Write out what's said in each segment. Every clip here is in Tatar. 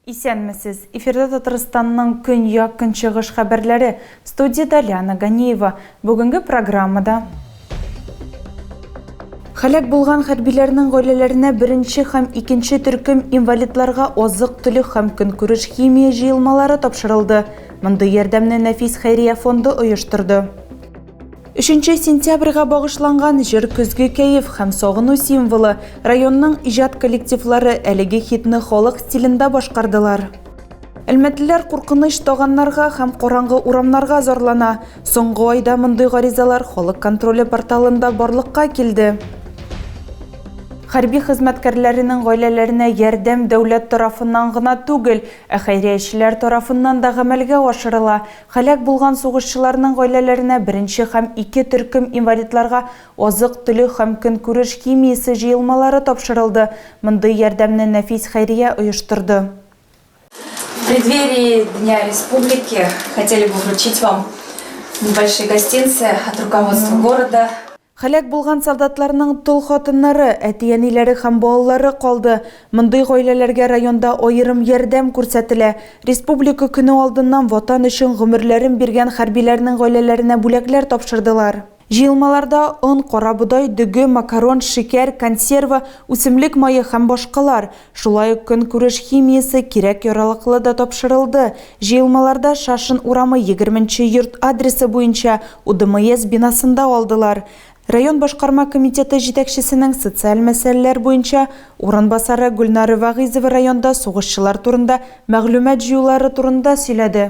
Исәнмесез! Эфирда Татарстанның көньяк-көнчыгыш хәбәрләре. Студиядә Лиана Ганиева. Бүгенге программада Һәлак булган хәрбиләрнең гаиләләренә беренче һәм икенче төркем инвалидларга азык-төлек һәм көнкүреш химия җыелмалары тапшырылды. Мондый ярдәмне Нәфис хәйрия фонды оештырды. Өченче сентябрьгә багышланган җыр көзге кәеф һәм сагыну символы, районның иҗат коллективлары әлеге хитны халык стилендә башкардылар. Әлмәтлеләр куркыныч таганнарга һәм караңгы урамнарга зарлана. Соңгы айда мондый гаризалар халык контроле порталында барлыкка килде. Хәрби хезмәткәрләренең гаиләләренә ярдәм дәүләт тарафыннан гына түгел, ә хәйриячеләр тарафыннан да гамәлгә ашырыла. Һәлак булган сугышчыларның гаиләләренә беренче һәм ике төркем инвалидларга азык-төлек һәм көнкүреш химиясе җыелмалары тапшырылды. Мондый ярдәмне Нәфис хәйрия оештырды. В преддверии Дня Республики хотели бы вручить вам небольшие гостинцы от руководства города. Хәләк булган солдатларның тол хатыннары, әти-әниләре һәм балалары калды. Мондый гаиләләргә районда аерым ярдәм күрсәтелә. Республика көне алдыннан Ватан өчен гомерләрен биргән хәрбиләрнең гаиләләренә бүләкләр тапшырдылар. Җыелмаларда он, карабодай, дөге, макарон, шикәр, консерва, үсемлек мае һәм башкалар, шулай ук көнкүреш химиясе, кирәк-яралыклы да тапшырылды. Җыелмаларда Шашин урамы егерме нче йорт адресы буенча УДМС бинасында алдылар. Район башкарма комитеты җитәкчесенең социаль мәсьәләләр буенча урынбасары Гөлнара Вәгыйзова районда сугышчылар турында мәгълүмат җыюлары турында сөйләде.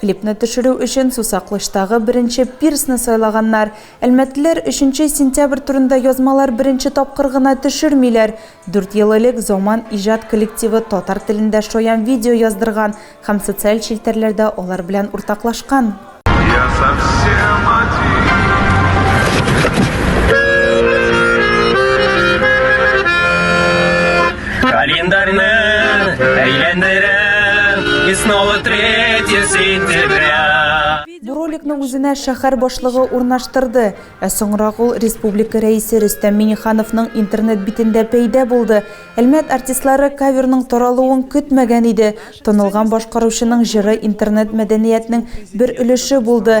Клипны төшерү өчен Сусакълычтагы беренче пирсны сайлаганнар. Әлмәтлеләр өченче сентябрь турында язмалар беренче тапкыр гына төшермиләр. Дүрт ел элек Заман иҗат коллективы татар телендә шаян видео яздырган һәм социаль челтәрләрдә алар белән уртаклашкан. Я совсем один. Календарьны әйләндерәм, и снова третье сентября. Бу роликны үзенә шәһәр башлыгы урнаштырды, ә соңрак ул республика рәисе Рөстәм Миңнехановның интернет битендә пәйда булды. Әлмәт артистлары каверның таралуын көтмәгән иде. Танылган башкаручының җыры интернет мәдәниятнең бер өлеше булды.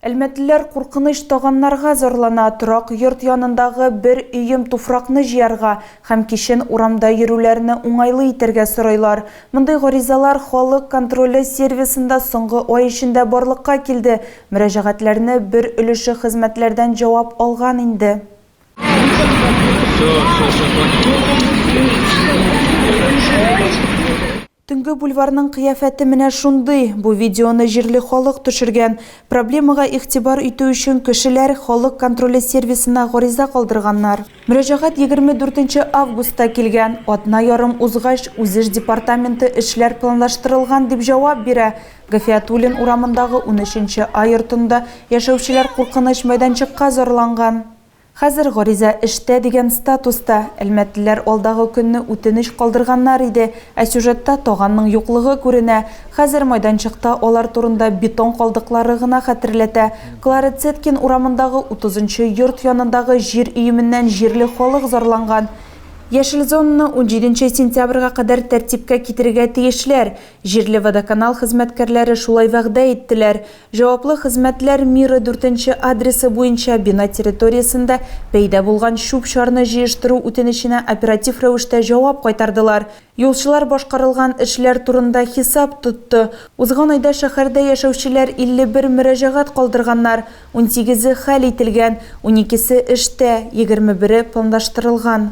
Әлмәтлеләр куркыныч таганнарга зарлана, торак йорт янындагы бер өем туфракны җыярга һәм кичен урамда йөрүләрне уңайлы итәргә сорыйлар. Мондый гаризалар Халык контроле сервисында соңгы ай эчендә барлыкка килде, мөрәҗәгатьләрне бер өлеше хезмәтләрдән җавап алган инде. Төнге бульварның кыяфәте менә шундый. Бу видеоны җирле халык төшергән. Проблемага игътибар итү өчен кешеләр Халык контроле сервисына гариза калдырганнар. Мөрәҗәгать егерме дүртенче августта килгән. Атна ярым узгач, Үзеш департаменты эшләр планлаштырылган, дип җавап бирә. Гафиятуллин урамындагы унөченче А йортында яшәүчеләр куркыныч мәйданчыкка зарланган. Хәзер гариза эштә дигән статуста. Әлмәтлеләр алдагы көнне үтенеч калдырганнар иде, ә сюжетта таганның юклыгы күренә. Хәзер майданчыкта алар турында бетон калдыклары гына хәтерләтә. Клара Цеткин урамындагы утызынчы йорт янындагы җир өеменнән җирле халык зарланган. Яшел зонаны унҗиденче сентябрьгә кадәр тәртипкә китерергә тиешләр. Җирле водоканал хезмәткәрләре шулай вәгъдә иттеләр. Җаваплы хезмәтләр миры дүртенче адресы буенча бина территориясендә пәйда булган чүп-чарны җыештыру үтенеченә оператив рәвештә җавап кайтардылар. Юлчылар башкарылган эшләр турында хисап тотты. Узган айда шәһәрдә яшәүчеләр 51 мөрәҗәгать калдырганнар, унсигезе хәл ителгән, уникесе эштә, егерме бере планлаштырылган.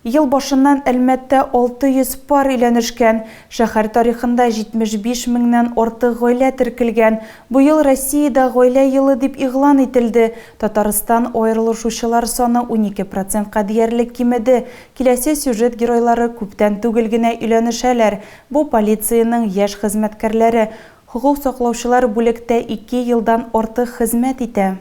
Ел башыннан Әлмәттә 600 пар өйләнешкән. Шәһәр тарихында 75 меңнән артык гаилә теркелгән. Быел Россиядә гаилә елы дип игълан ителде. Татарстан аерылышучылар саны унике процентка диярлек кимеде. Киләсе сюжет геройлары күптән түгел генә өйләнешәләр. Бу полициянең яшь хезмәткәрләре. Хокук саклаучылар бүлектә ике елдан артык хезмәт итә.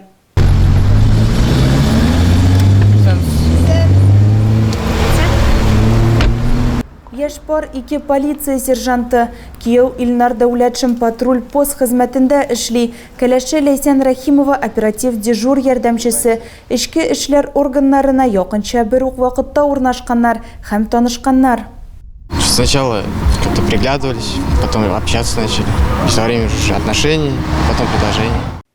Яшь пар ике полиция сержанты. Кияү Илнар Дәүләтшин патруль пост хезмәтендә эшли. Кәләше Ләйсән Рәхимова оператив дежур ярдәмчесе. Эчке эшләр органнарына якынча бер үк вакытта урнашканнар һәм танышканнар. Сначала как-то приглядывались, потом общаться начали. Со временем уже отношения, потом предложения.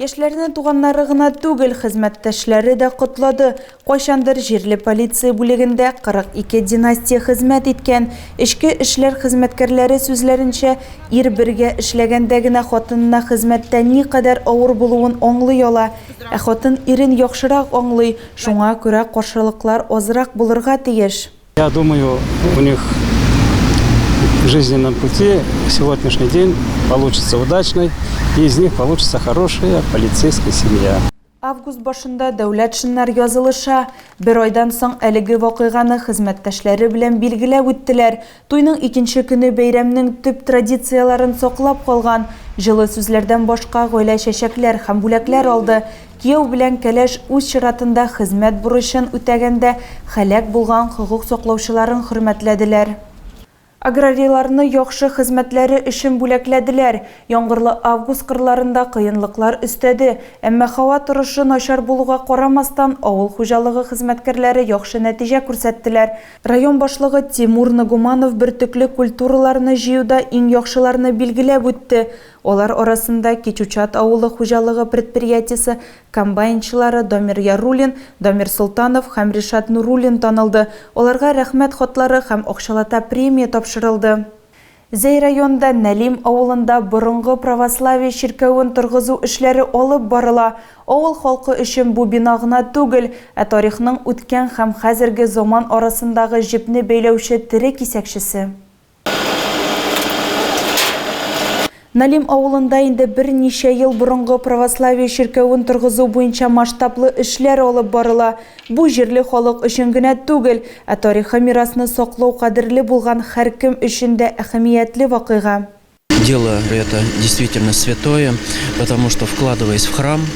Яшьләрне туганнары гына түгел, хезмәттәшләре дә котлады. Кайчандыр җирле полиция бүлегендә 42 династия хезмәт иткән, эчке эшләр хезмәткәрләре сүзләренчә, ир бергә эшләгәндә генә хатынына хезмәттә никадәр авыр булуын аңлый ала. Ә хатын ирен яхшырак аңлый, шуңа күрә каршылыклар азрак булырга тиеш. Я думаю, у них в жизненном пути сегодняшний день получится удачный, и из них получится хорошая полицейская семья. Август башында дәүләт шиннар язылыша. Бер айдан соң әлеге вакыйганы хезмәттәшләре белән билгеләп үттеләр. Туйның икенче көне бәйрәмнең төп традицияләрен саклап калган. Җылы сүзләрдән башка гаилә чәчәкләр һәм бүләкләр алды. Кияү белән кәләш үз чиратында хезмәт бурычын үтәгәндә һәлак булган хокук саклаучыларын хөрмәтләделәр. Аграрийларны яхшы хезмәтләре өчен бүләкләделәр. Яңгырлы август кырларында кыенлыклар өстәде, әмма һава торышы начар булуга карамастан, авыл хуҗалыгы хезмәткәрләре яхшы нәтиҗә күрсәттеләр. Район башлыгы Тимур Нагуманов бөртекле культураларны җыюда иң яхшыларны билгеләп үтте. Алар арасында Кечучат авылы хуҗалыгы предприятиесе комбайнчылары Дамир Яруллин, Дамир Солтанов һәм Ришат Нуруллин танылды, аларга Рәхмәт хатлары һәм акчалата премия тапшырылды. Зәй районында Нәлим авылында борынгы православие чиркәвен торгызу эшләре алып барыла. Авыл халкы өчен бу бина гына түгел, ә тарихның үткән һәм хәзерге заман арасындагы җепне бәйләүче тере кисәкчесе. Налим авылында инде берничә ел борынгы православие чиркәвен торгызу буенча масштаблы эшләр алып барыла. Бу җирле халык өчен генә түгел, ә тарихи мирасны саклау кадерле булган һәркем өчен дә әһәмиятле вакыйга. Дело это действительно святое, потому что вкладываясь в храм,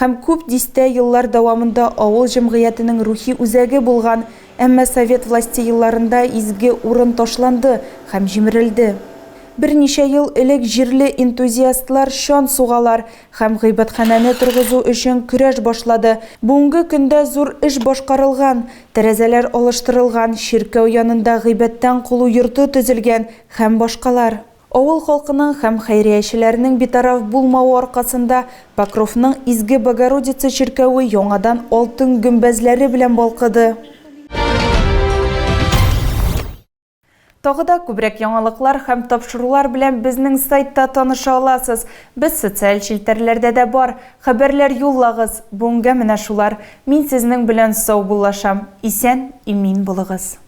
һәм күп дистә еллар дәвамында авыл җәмгыятенең рухи үзәге булган, әмма совет власте елларында изге урын ташланды һәм җимерелде. Берничә ел элек җирле энтузиастлар чан сугалар һәм гыйбадханәне торгызу өчен көрәш башлады. Бүгенге көндә зур эш башкарылган, тәрәзәләр алыштырылган, чиркәү янында гыйбадтән колу йорты төзелгән һәм башкалар. Авыл халкының һәм хәйриячеләренең битараф булмавы аркасында Покровның Изге Богородица чиркәве яңадан алтын гөмбәзләре белән балкыды. Тагы да күбрәк яңалыклар һәм тапшырулар белән безнең сайтта таныша аласыз. Без социаль челтәрләрдә дә бар. Хәбәрләр юллагыз. Бүгенгә менә шулар. Мин сезнең белән саубуллашам. Исән, имин булыгыз.